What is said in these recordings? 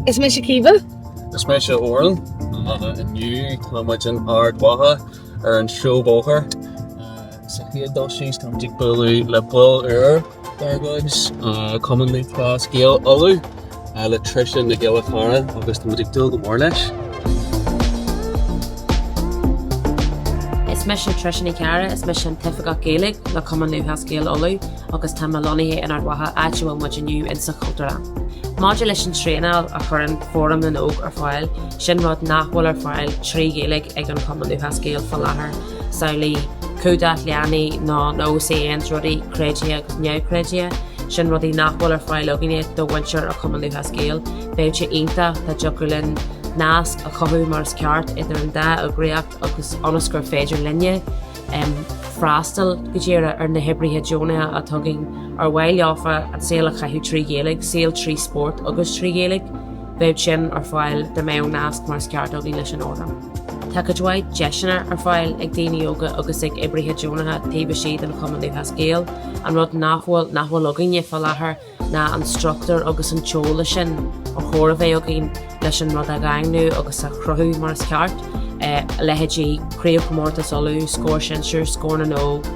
Is mise Caoimhe. Is mise Odhrán. Inniu tá muid in Ard Mhacha ar an seó bóthair. Sa chéad dul síos tá muid ag bualadh le baill úr dár gcuid, Cumann Lúthchleas Gael Uladh, le Trisha Nic Giolla Cheara agus tá muid ag dúil go mór leis. Is mise Trisha Nic Giolla Cheara, is mise an t-Oifigeach Gaeilge le Cumann Lúthchleas Gael Uladh. agus tá mé lonnaithe in Ard Mhacha, áit a bhfuil muid inniu in sa Chultúrlann. Maidir leis an traenáil a chuireann Fóram na nÓg ar fáil, sin rud nach bhfuil ar fáil trí Ghaeilge ag an Chumann Lúthchleas Gael faoi láthair, samhail le cumhdach leanaí nó OCN, rudaí, creidithe agus neamhchreidithe, sin rudaí nach bhfuil ar fáil againne do mhuintir an Chumann Lúthchleas Gael. Bheadh sé iontach dá dtiocfadh linn nasc a chothú mar is ceart idir an dá eagraíocht agus ionas gur féidir linne, freastal go díreach ar na hoibrithe deonacha a thagann ar mhaith leofa a saol a chaitheamh trí Ghaeilge, saol trí spórt agus trí Ghaeilge, bheadh sin ar fáil dá mbeadh nasc mar is ceart againn leis an fhóram. Tá cuid mhaith deiseanna ar fáil ag daoine óga agus ag oibrithe deonacha taobh istigh den Chumann Lúthchleas Gael, an rud nach bhfuil nach bhfuil againne faoi láthair, ná an struchtúr agus an t-eolas sin ar chóir a bheith againn leis an rud a dhaingniú agus a chruthú mar is ceart, leithéidí Craobhchomórtas Uladh, Scór Sinsir, Scór na nÓg,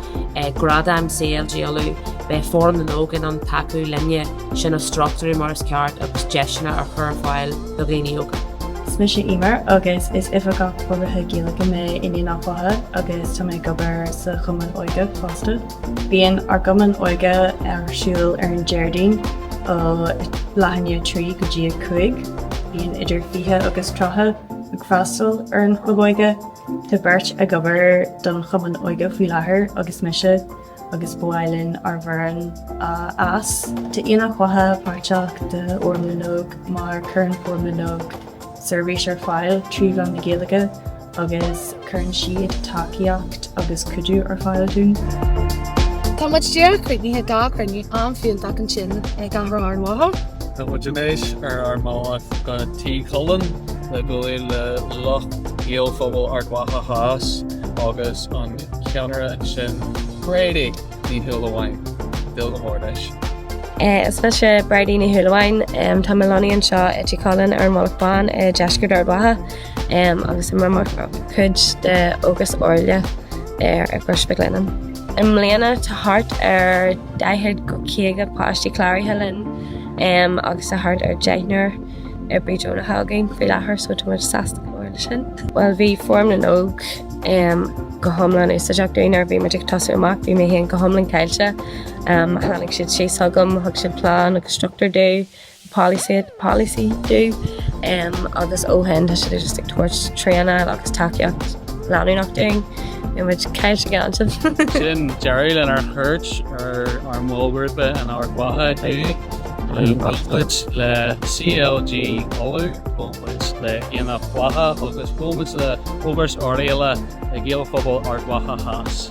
Gradaim CLG Uladh, beidh Fóram na nÓg in ann tacú linne sin a struchtúrú mar is ceart agus deiseanna a chur ar fáil do dhaoine óga. Is mise Emer agus is Oifigeach Forbartha Gaeilge mé in Aonach Mhacha agus tá mé ag obair sa Chumann Óige fosta. Bíonn ár gcumann óige ar siúl ar an Déardaoin ó leath i ndiaidh 3 go dtí 5. Bíonn idir 20 agus 30 ag freastal ar an chlub óige. Tá beirt ag obair don chumann óige faoi láthair agus mise agus ba mhaith linn ár bhfoireann a fhás. Tá Aonach Mhacha páirteach de Fhóram na nÓg mar cuireann Fóram na nÓg seirbhís ar fáil trí mheán na Gaeilge agus cuireann siad tacaíocht agus cuidiú ar fáil dúinn. Tá muid díreach críochnaithe de chruinniú an-fhiúntach ansin i gCathair Ard Mhacha. Tá muid anois ar ár mbealach go Tí Chulainn le bualadh le lucht Gaelphobal Ard Mhacha Theas agus an ceannaire ansin, Bridie Ní Shúilleabháin. Ag dúil go mór leis. Is mise Bridie Ní Shúilleabháin. Tá mé lonnaithe anseo i Tí Chulainn ar an Mhullach Bán i ndeisceart Ard Mhacha. agus tá muid mar chuid de Ógras Oirialla ar i gCrois Mhic Lionnáin. I mbliana tá thart ar 40-50 páistí cláraithe linn agus tá thart ar deichniúr oibrí deonach againn faoi láthair so tá muid sásta go mór leis sin. Bhuel bhí Fóram na nÓg go hiomlán úsáideach dúinn nuair a bhí muid ag tosú amach, bhí mé féin go hiomlán caillte, tháinig siad síos chugam, thug siad plán agus struchtúr dom, policy dúinn agus ó shin tá siad just ag tabhairt traenáil agus tacaíocht leanúnach dúinn. Bheadh muid caillte gan sin. Sin deireadh lenár gcuairt ar ár mballghrúpaí in Ard Mhacha inniu. Bhuail muid le CLG Uladh, bhuail muid le Aonach Mhacha, bhuail muid le Ógras Oirialla, le Gaelphobal Ard Mhacha Theas.